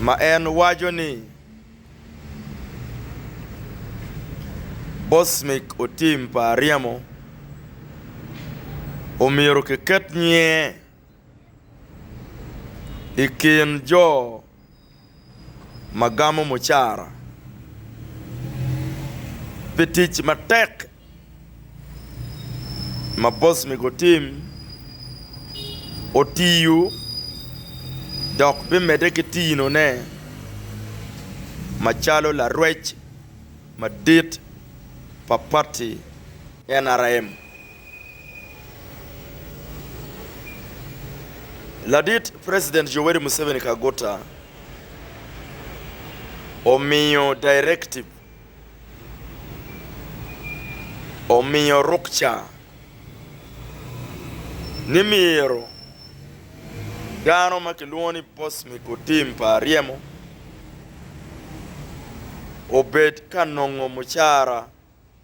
ma en waco ni Bosmik otim pa aryemo, omyero kiket nyinge i kin jo ma gamo mucara pi tic matek ma boss myego otim, otiyo dok bimedde ki tinone macalo larwec madit pa pati NRM. Ladit President Yoweri Museveni Kaguta omiyo directive, omiyo rukca ni myero dano ma kilwongo ni boss me kotim pa ryemo obed ka nongo mucara.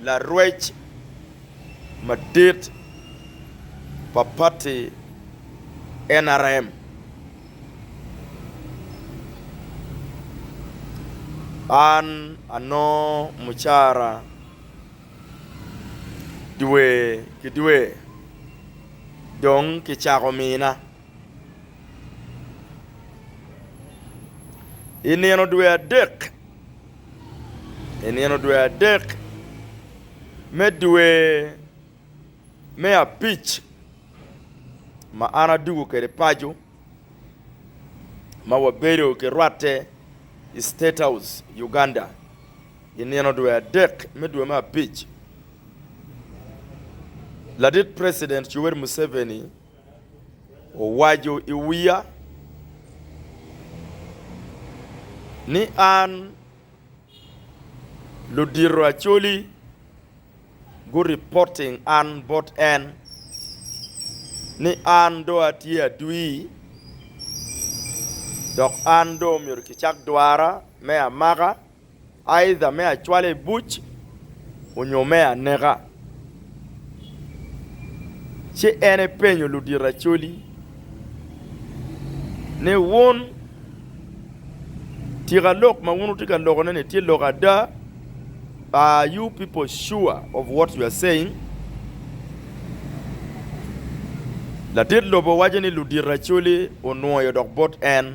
Larwec madit pa pati nrm An anongo mucara dwe ki dwe dong kicako mina. I nino dwe adek me dwe me abic ma an adwogo kwede paco ma wabedo ki rwatte i State House Uganda i nino dwe adek me dwe me abic ladit president Yoweri Museveni owaco i wiya ni an ludito Acholi guripoting an bot en ni an do atye adwi dok an do myero kicak dwara me amaka. aidha me acwala i buc onyo me aneka. Ci en epenyo ludito acoli ni, Wun, tika lok ma wun wutye ka lokone-ni tye lok ada? Are you people sure of what you are saying? Latit lobo waco ni ludito acoli onwoyo dok bot en.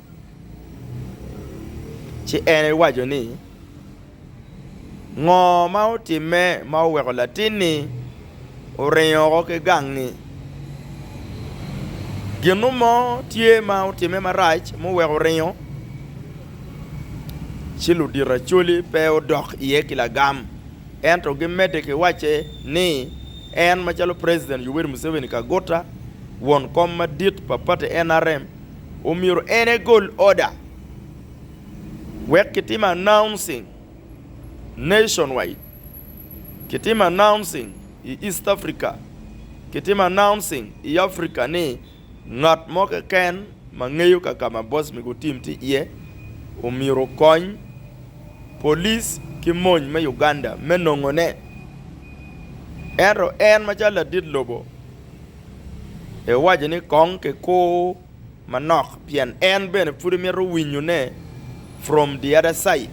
Ci en ewaco ni, Ngo ma otimme ma oweko latinni oringo oko ki gangngi? Ginu mo tye ma otimme marac muweko oringo? Ci ludiracoli pe odok iye ki lagam, ento gimedde ki wacce ni, En macalo President Yoweri Museveni Kaguta, won kom madit pa pati NRM, omyero en egol order wek kitimo announcing nation wide, kitimo announcing i East Africa, kitimo announcing i Africa ni ngat mo keken ma ngeyo kakama Boss Migo Tim tye iye omyero okony Police ki mony me Uganda me nongone. Ento en macalo ladit lobo, Iwaco ni, 'Kong kikur manok, pien en bene pud imito winyone from the other side.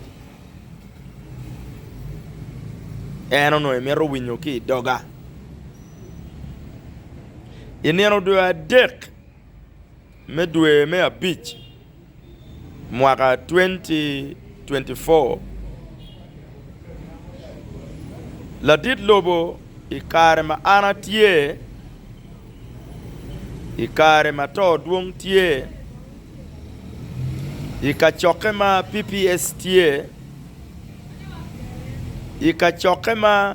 En onongo imito winyo ki i doga. I nino dwe adek. Me dwe me abic mwaka 2024, ladit lobo i kare ma an atye, i kare ma to dwong tye, i kacokke ma PPS tye, i kacokke ma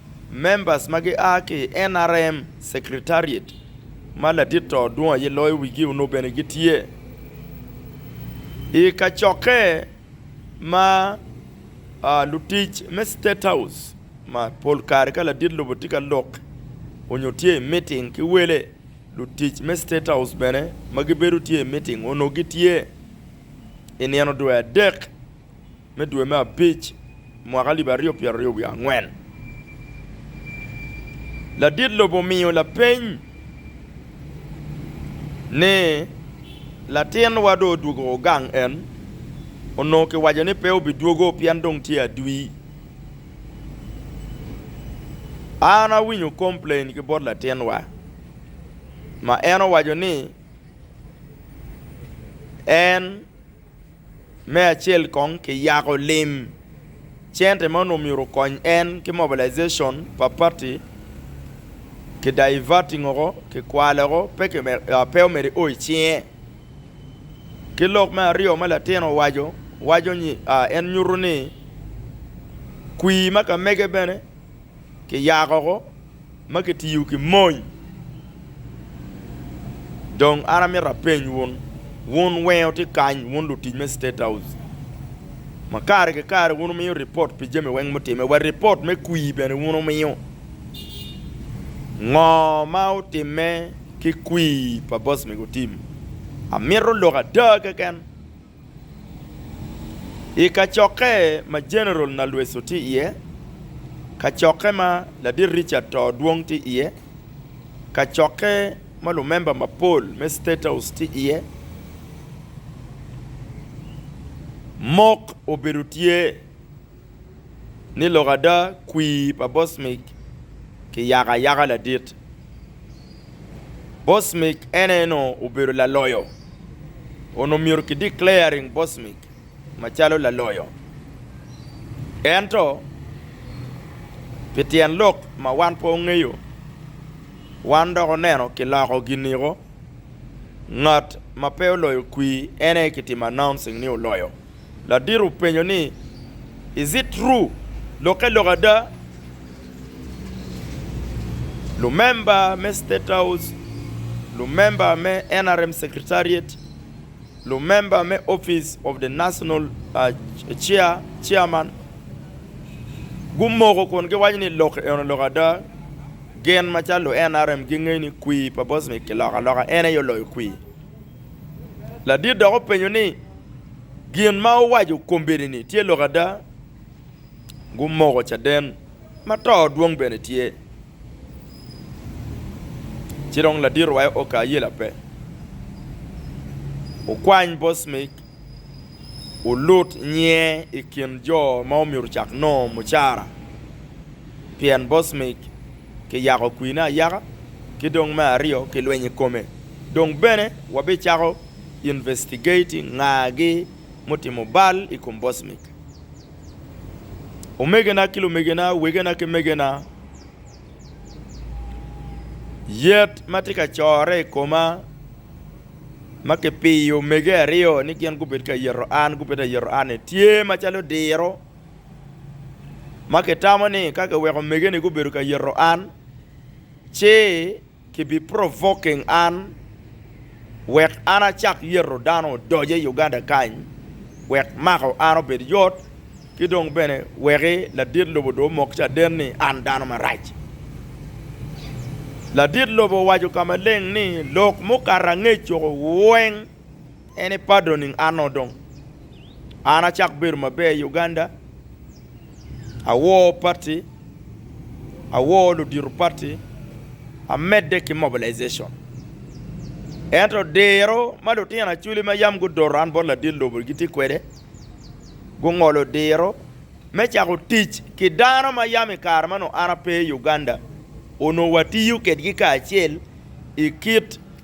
Members ma gia ki i NRM Secretariat ma ladit to dwong aye loyo wigi onongo bene gitye i kacokke ma lutic me State House ma pol kare ka ladit lobo tye ka lok onyo tye i meeting ki wele, lutic me State House bene ma gibedo tye i meeting onongo gitye i nino dwe adek. me dwe me abic mwaka alip aryo pyeraryo wiye angwen, ladit lobo omiyo lapeny ni, Latin wa dong odwogo gang en onongo kiwaco ni pe obidwogo pien dong tye adwi. An awinyo complain ki bot latin wa ma en owaco ni en Me acel kong ki yako lim cente ma onongo myero okony en ki mobilization pa party ki diverting oko ki kwale oko pe omyero io icinge ki lok me aryo ma latin owaco waco ni en nyuto ni kwir ma kamege bene ki yako oko. ma kitiyo ki mony. Dong an amito apeny wun, wun wenge wutye kany, wun lutic me State House, ma kare ki kare wun wumiyo ripot pi jami weng mutimme, wa ripot me kwir bene wun wumiyo. Ngo ma otimme ki kwir pa Boss Mego Tim? Amito lok ada keken I kacokke ma Jeneral Nalweso tye iye, kacokke ma Ladit Richard Too Dwong tye iye, kacokke ma lumemba mapol me State House tye iye, mok obedo tye. ni lok ada kwir pa Bosmik kiyako ayaka ladit. Bosmik en aye nongo obedo laloyo. Onongo myero ki declaring Bosmik macalo laloyo. Ento pi tyen lok ma wan pe ongeyo, wan dok oneno kiloko giniko ngat ma pe oloyo kwir en aye kitimo announcing ni oloyo. Ladito openyo ni, Is it true? Lokke lok ada? Lumemba me State House, lumemba me nrm Secretariat, lumemba me Office of the National Chairman gumoko kun giwaco ni lok eno lok ada. Gin macalo lu nrm gingeyo ni kwir pa Bosnic kiloko aloka en aye oloyo kwir. Ladit dok openyo ni, Gin ma wuwaco kombeddi-ni tye lok ada? Gumoko caden, ma to dwong bene tye. Ci dong ladit orwayo oka ayela pe, okwany bos mig, olut nyiye i kin jo ma omyero ocak nongo mucara, pien bos mig. kiyako kwine ayaka, ki dong me aryo kilweny i kome. Dong bene wabicako investigating ngagi mutimo bal i kom Bosmic. Omegena ki lumegena, wegena ki megena, yet ma tye ka corre i koma ma kipiyo mege aryo ni gin gubed ka yero an, gubed ayero anni, tye macalo diro. ma kitamo ni ka kiweko omege-ni gubedo ka yito an, ci kibi-provoking an wek an acak yito dano odoc i Uganda kany wek mako an obed yot, ki dong bene weki ladit lobo dong omok caden ni an dano marac. Ladit lobo owaco ka maleng ni, Lok mukato angec-cu weng, En i Padro ning ano dong. An acak bedo maber i Uganda, awor pati, awor ludito pati, amedde ki mobilization. Ento diro ma lutino aculi ma yam gudoto an bot ladit lobo gitye kwede, gungolo diro me cako tic ki dano ma yam i kare ma nongo an ape i Uganda onongo watiyo kedgi kacel i kit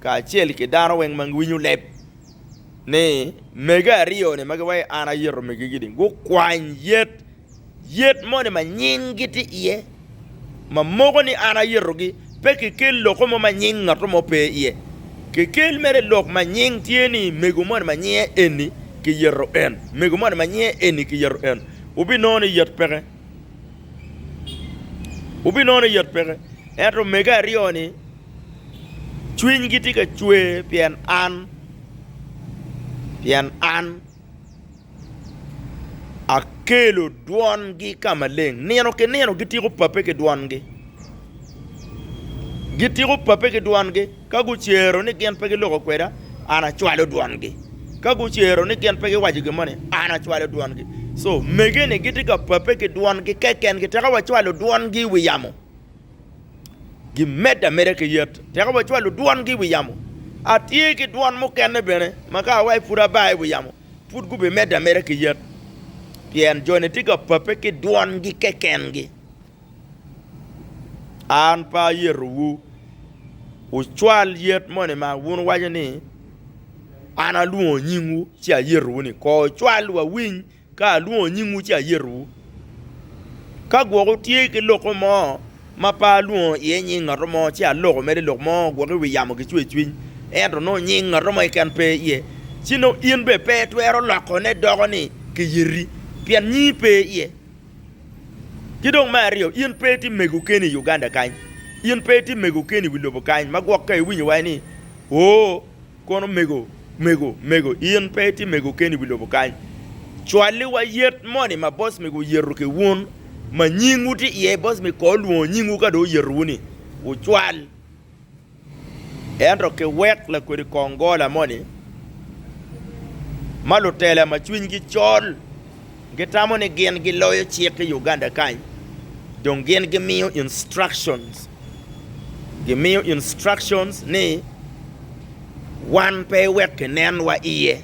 kacel ki dano weng ma giwinyo leb ni mege aryo ni ma giwaco ni an ayito mege gi ni gukwany yet yet moni ma nying gi tye iye ma moko ni an ayito gi pe ki kel loko mo ma nying ngato mo pe iye ki kel mere lok ma nying tye ni mego moni ma nyinge eni ki yito en mego moni ma nyinge eni ki yito en wu bi nongo ni yet peke wu bi nongo ni yet peke ento mege aryo ni Cwinygi tye ka cwer pien an, pien an akelo dwongi ka maleng. Nino ki nino gitiko Pape ki dwongi. Gitiko Pape ki dwongi. Ka gucero ni gin pe giloko kweda, an acwalo dwongi. Ka gucero ni gin pe giwaco gin moni, an acwalo dwongi. Co mege-ni gitye ka Pape ki dwongi keken, kiteka wacwalo dwongi i wi yamo. gimedde ameda ki yet, tek wacwalo dwongi i wi yamo. Atye ki dwon mukene bene ma ka awaco pud aba i wi yamo, pud gubimedde ameda ki yet, pien joni tye ka pape ki dwongi kekengi. An pe ayetowu wucwal yet moni ma wun wuwaco ni, 'An alwongo nyingwu, ci ayetowu ni, Kor cwal, wawiny Ka alwongo nyingwu ci ayetowu. Ka gwok wutye ki loko mo ma pe alwongo iye nying ngat mo, ci aloko mere i lok mo gwok i wi yamo ki cwercwiny, ento nongo nying ngat mo keken pe iye, ci nongo in bene pe itwero lokone doko ni kiyeti, pien nyingi pe iye. Ki dong me aryo, in pe itye mego keni i Uganda kany. In pe itye mego keni i wi lobo kany ma gwok ka iwinyo waci ni, 'Oo! Kono mego, mego, mego, in pe itye mego keni i wi lobo kany. Cwaliwa yet moni ma boss mego oyeto ki wun ma nyingwu tye iye. Boss mego kor olwongo nyingwu ka dong oyetowuni, wucwal. Ento kiwek lakwedi kongola moni ma lutela ma cwinygi col. Gitamo ni gin giloyo cik i Uganda kany dong gin gimiyo instructions, gimiyo instructions ni wan pe wek kinenwa iye,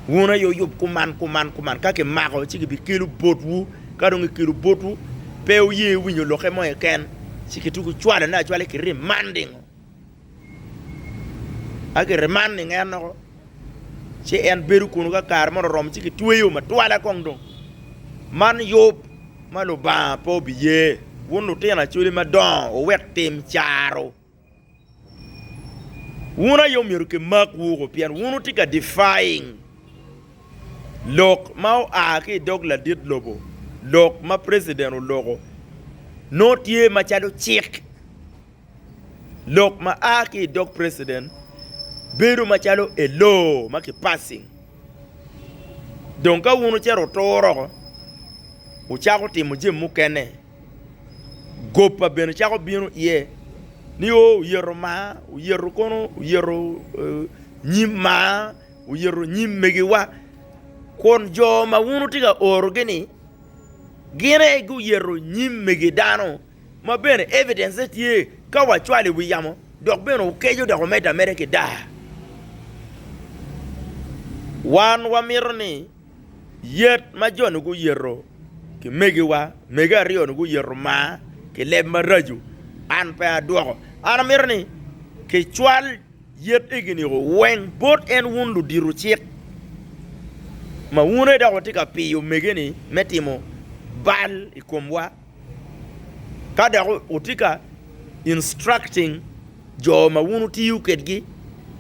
wun aye wuyub kuman kuman kuman ka kimako ci gibikelu botwu, ka dong gikelu botwu pe wuye winyo lokke mo keken ci gitugo cwalone acwala ki remanding-o. Akete man i nget loko, ci en bedo kunu ka kare mono oromo ci kitweyo matwala kong dong. Man yub ma Lubanga pe obiye. Wun lutino acoli madongo wuwek tim caro. Wun aye omyero kimak wuku pien wun wutye ka defying lok ma oa ki i dog ladit lobo, lok ma president oloko nongo tye macalo cik. Lok ma a ki i dog president bedo macalo a law ma ki passing dong ka wun wucito wutur oko wucako timo jami mukene goba bene cako bino iye ni o oyeto maa, oyeto kono, oyeto nyim maa, oyeto nyim megiwa kun jo ma wun wutye ka orogi ni gin aye guyeto nyim mege dano. Ma bene evidence ne tye ka wa cwalo i wi yamo dok bene okeco dok omedde ameda ki daa. Wan wa mito ni yet ma jo ni guyeto ki megi wa, mege aryo ni guyeto maa ki leb maraco, an pe a dwoko. An a mito ni ki cwal yet egi niko weng bot en wun ludito cik ma wun aye dok wa tye ka piyo mege ni me timo bal i kom wa. ka dok wutye ka instructing jo ma wun wutiyo kwedgi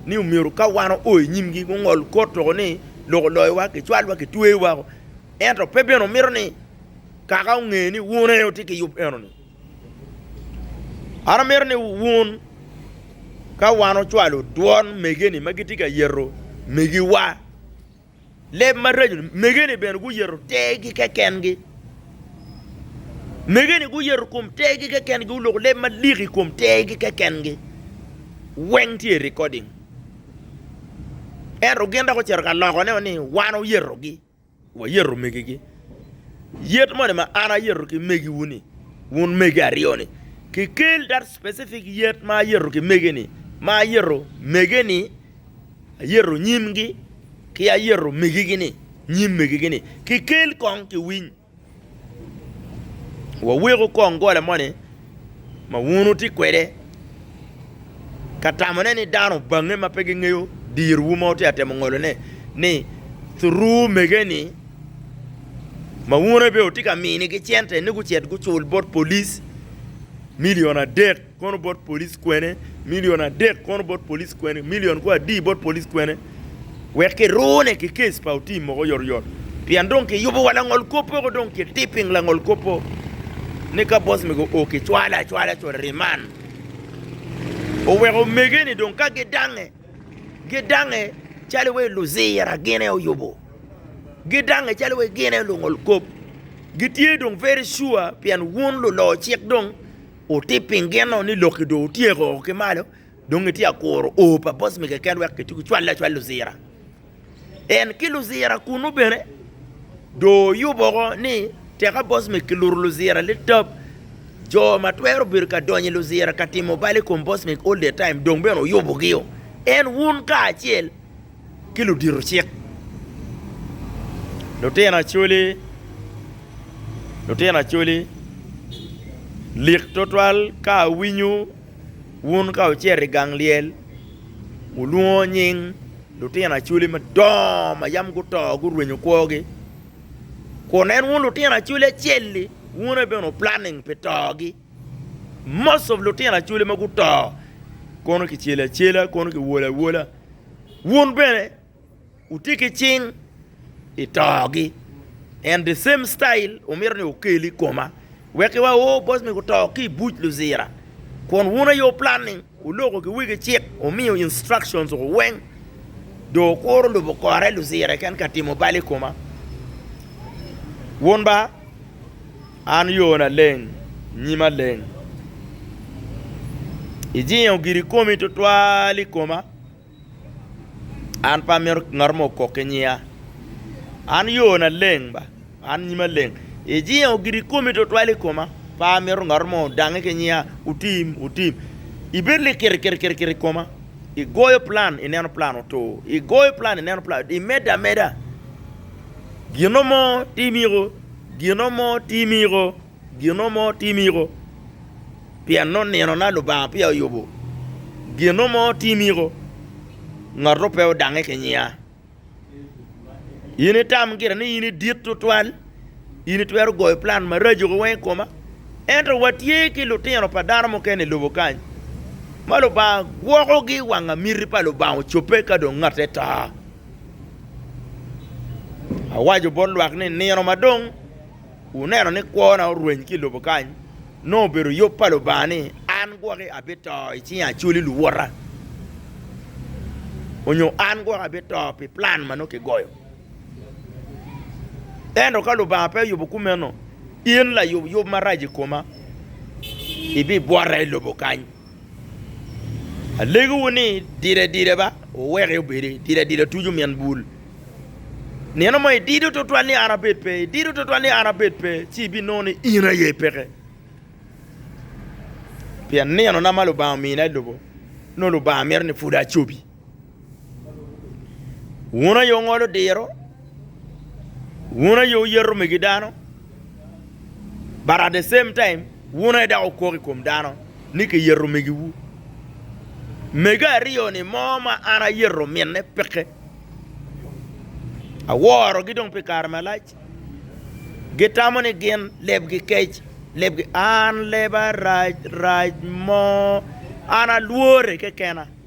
ni myero ka wan oo i nyimgi gungol kor tuko ni lok oloyowa, kicwalwa, kitweyo woko ento pe bene wumito ni Kaka onge ni wun aye wutye ki yub enoni. An amito ni wun ka wan wucwalo dwon mege-ni ma gitye ka yeto megiwa, leb maraco. Megene bene guyeto tergi kekengi. Megene guyeto kom tergi kekengi, guloko leb malik i kom tergi kekengi. Weng tye i recording. Ento gin dok ocito ka lokone ni wan oyetogi, wayeto megegi. Yet moni ma an ayeto ki megiwu-ni, wun mege aryo-ni, kikel that specific yet ma ayeto ki mege-ni, ma ayeto mege-ni. Ayero nyimgi ki ayero megigi-ni, nyim megigi-ni, kikel kong kiwiny. Waweku kong gola moni ma wun wutye kwede ka tamone ni dano obangnge ma pe gingeyo dirwu ma wutye ka temo ngolone ni thuruu mege-ni ma wun bene wutye ka minigi cente ni gucit gucul bot polic milion adek. kono bot police kwene million adek kono bot police kwene million ko adi bot police kwene wek ki rune ki case pa otim moko yot yot pien dong ki yubo wa langol kopo ko dong ki tipping langol kopo ni ka boss mi go o ki cwale acwala co riman oweko mege ni dong ka gi dange gi dange calo we luzira gine oyubo gi dange calo we gine lungol kop gi tye dong very sure pien wun lulo cik dong Wutib piny gin nongo ni lok-ki dong otyeko ki malo, dong itye ka kuro o pa bocmi keken wek kitye kicwalle acwal Luzira. En ki Luzira kunnu bene dong oyubo woko ni teka bocmi kiluto Luzira litab, jo ma twero bedo ka donyo i Luzira ka timo bal i kom bocmi all the time dong bene oyubogio. En wun kacel ki ludito cik, lutino Acholi, lutino Acholi, lik twatwal ka awinyo wun ka wucito i gang lyel wulwongo nying lutino Acholi madongo ma yam guto gurwenyo kwogi, kun en wun lutino Acholi acel-li wun aye bene wu planning pi togi. Most of lutino acholi ma guto kono kicelo acela kono kiwolo awola. Wun bene wutye ki cing i togi and the same style wumito ni wukel i koma wek ki waor oh boss me guto ki i buc Luzira kun wun aye wu planning wuloko ki wigi cik wumiyo instructions oko weng dong wukuro lubo kore Luzira keken ka timo bal i koma wun ba. An yona leng, nyima leng. Ijingo girikomi tutwal i koma, an pe amito ngat mo okok ki nyiya. An yona leng ba, an nyima leng. Ijingo girikomi tutwal i koma, pe amito ngat mo odangi ki nyiya, otim, otim. Ibedo likiri kiri kiri kiri i koma, igoyo plan ineno plan otur, igoyo plan ineno plan, imedde ameda. Gino mo ti miko. Gino mo timiko, gino mo timiko, pien nongo ninona Lubanga peya oyubo. Gino mo timiko, ngatto pe odange ki nyia. In itam gire ni in idit tutwal, in itwero goyo plan maraco-gi weng i koma. Ento watye ki lutino pa dano mukene i lobo kany ma Lubanga gwokogi wanga miti pa Lubanga ocobbe ka dong ngatte to. Awaco bot lwak ni, 'Nino ma dong wuneno ni kwona orweny ki i lobo kany, nongo obedo yub pa Lubanga ni an gwoki abito i cinge acoli luwota, onyo an gwoki abito pi plan ma nongo kigoyo. Ento ka Lubanga pe oyubo kumeno, in layub yub marac i koma ibibwota i lobo kany. Alegowu ni, dide dide ba, wuweke obedi, dide dide otuco min bul. Nino mo idido twatwal ni an abed pe, idido twatwal ni an abed pe, ci ibinongo ni in aye peke. Pien ninona ma Lubanga omina ilubo, nongo Lubanga mito ni pud acobi. Wun aye wungolo diro, wun aye wuyeto megi dano, but at the same time wun aye dok wukok i kom dano ni kiyeto megiwu. Mege aryo-ni mo ma an ayeto mine peke, aworogi dong pi kare malac, gitamo ni gin lebgi kec, lebgi an leba rac rac mo, an alwore kekena.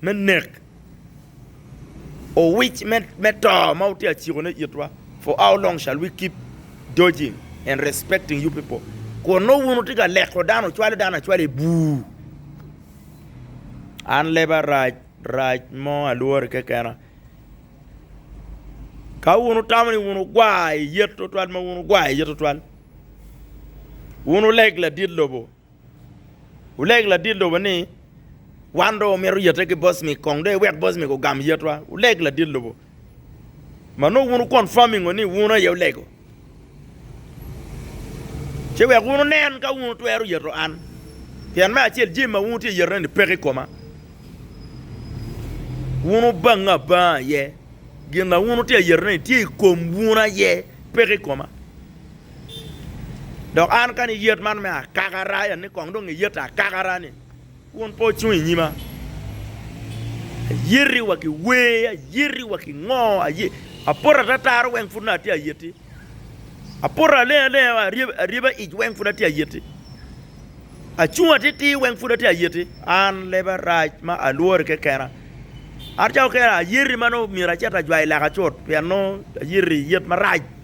me nek, owic me to ma wutye ka ciko ne itwa, for how long shall we keep dodging and respecting you people? Kun nongo wun wutye ka leko dano, wucwalo dano acwala i bur. An leba rac, rac mo alwori kekena. Ka wun wutamo ni wun wugwar i yet tutwal ma wun wugwar i yet tutwal, wun wuleg ladit lobo, Wuleg ladit lobo ni, Wan dong wamito yete ki Bosmik kong dong iwek Bosmik ogam yetwa. Wuleg ladit lobo ma nongo wun wukonfamingo ni wun aye wulego, ci wek wun wunen ka wun wutwero yeto an, pien me acel jami ma wun wutye ka yetone-ni peke i koma. Wun wubange abanga aye, gin ma wun wutye ka yetone-ni tye i kom wun aye, peke i koma. Dok an ka ni yet man me akakara, ya ni kong dong iyet akakara ni, wun pe wacung i nyima. Ayeti wa ki wer, ayeti wa ki ngo, aye, apoto atataro weng pud naka atye ayeti. Apoto aleng alenga wa, aryeba aryeba ic weng pud atye ayeti. Acung atitir weng pud atye ayeti. An leba rac ma alwori kekena. An ca okera ayeti ma nongo myero acit ajwayo leka cut pien nongo ayeti yet marac.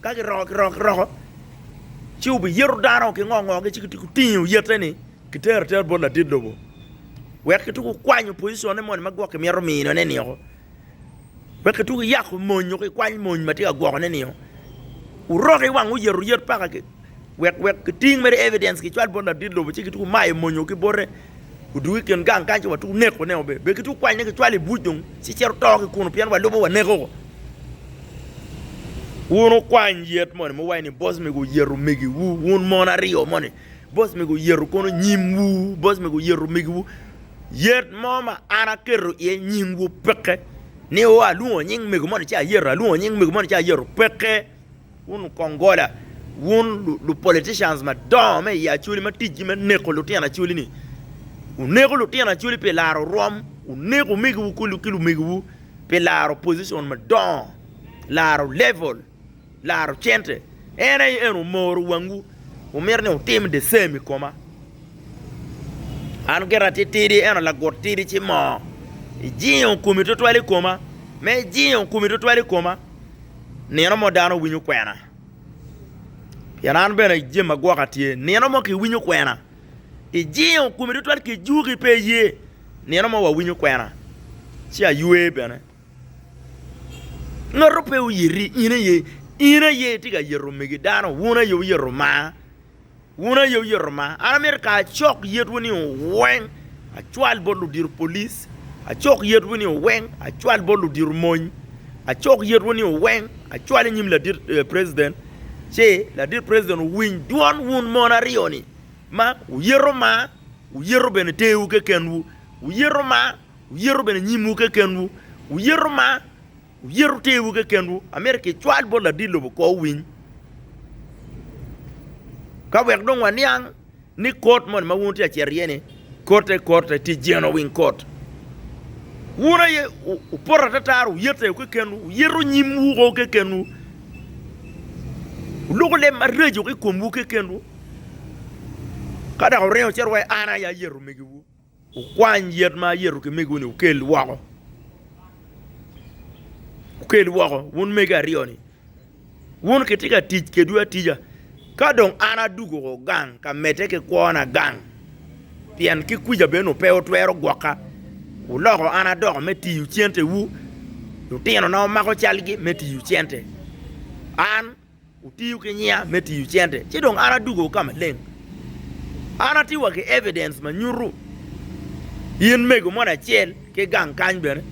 Ka giroko ki rok roko, ci wubiyito dano ki ngo ngogi ci gitye gutinge oyette-ni gitere atera bot ladit lobo wek gituk gukwanyo pociconne moni ma gwoki mito minone-ni woko, wek gituk giyako mony nyo gikwany mony ma tye ka gwokone-ni woko. Wuroke i wang oyet oyet paka-ki. Wek wek giting mere evidence gicwal bot ladit lobo ci gituku mayo monyo ki bote odugu i kin gang kany ci watuku neko ne obe be gituku kwany ne gicwal i buc dong ci cito to ki kunu pien walubo waneko ko. Wun wukwany yet moni muwaci ni boss mego oyeto megi wu wun mon aryo moni boss mego oyeto kono nyim wu boss mego oyeto megi wu yet mo ma an aketo iye nying wu peke ni o alwongo nying mego moni ci ayeto alwongo nying mego moni ci ayeto peke. Wun okongola, wun lu politicians madongo me i Acholi ma ticgi me neko lutino Acholi ni. Wuneko lutino Acholi pi laro rwom, wuneko omegiwu ki lumegiwu pi laro position madongo, laro level, laro cente. En aye en omoro wangwu, wumito ni wutim the same i koma. An gira titidi eno lagut tidi ci moo. Ijingo komi tutwal i koma, me ijingo komi tutwal i koma. nino mo dano winyo kwena, pien an bene jami agwoka tye. Nino mo kiwinyo kwena, ijingo komi tutwal kijuki pe iye, nino mo wawinyo kwena ci aywe bene. Ngatu pe oyiti in aye, in aye itye ka yito omegi dano, wun aye wuyeto Lubanga. Wun aye wuyeto ma. An amito kara acok yetwu ni oweng acwal bot ludito polic, acok yetwu ni oweng acwal bot ludito mony, acok yetwu ni oweng acwal i nyim ladit president ci ladit president owiny dwon wun mon aryo ni ma wuyeto ma, wuyeto bene terwu kekenwu, wuyeto ma, wuyeto bene nyimwu kekenwu, wuyeto ma. Wuyeto tewu kekenwu. Amyero kicwal bot ladit lobo kwo owiny ka wek dong waniang ni kot moni ma wun wutye ka cito iye-ni kotte kotte tye genowing kot. Wun aye wupoto atatara, wuyeto tewu kekenwu, wuyeto nyimwu woko kekenwu, wuloko leb maraco ki i komwu kekenwu, ka dok wuringo wucito wa, an aye ayeto omegiwu. Wukwany yet ma ayeto ki megiwu-ni wukel woko. Wukel woko, wun megi aryo-ni. Wun kitye ka tic kedwu atica. Ka dong an adwogo woko gang ka medde ki kwona gang, pien ki kwica bene nongo pe wutwero gwoka, wuloko an adoko me tiyo centewu, lutinona wumako calgi me tiyo cente. An. Wutiyo ki nyinga me tiyo cente, ci dong an adwogo ka maleng. An atye wa ki evidence ma nyuto in mego moni acel ki gang kany bene,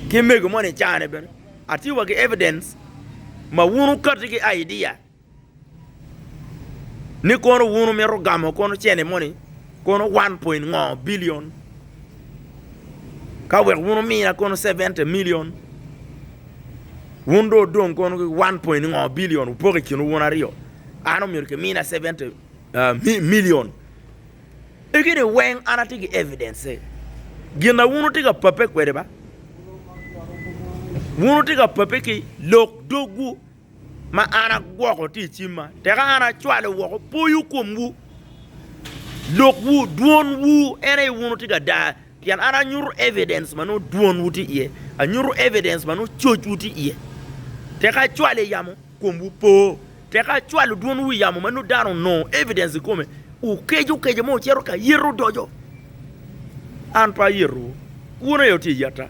ki mego moni icane bene. Atye wa ki evidence ma wun wukati ki idea ni kono wun wumito gamo kono cene moni, kono one point ngo billion. Ka wek wun wumiya kono 70 million, wun dong wudong kono ki 1 point ngo billion wupoko i kinwu wun aryo, an omyero kimina 70 uh, million. Egini weng an atye ki evidence-e. Gin na wun wutye ka pape kwede ba? Wun wutye ka pape ki lok dogwu ma an agwoko tye i cimma, teka an acwalo woko poyo komwu, lokwu, dwonwu, en aye wun wutye ka dar, pien an anyuto evidence ma nongo dwonwu tye iye, anyuto evidence ma nongo cocwu tye iye, teka acwalo i yamo, komwu po, teka acwalo dwonwu i yamo ma nongo dano onongo evidence i kome, wukeco keco ma wucito ka yet odoco, an pe ayeto wu, kwona aye tye i yetta.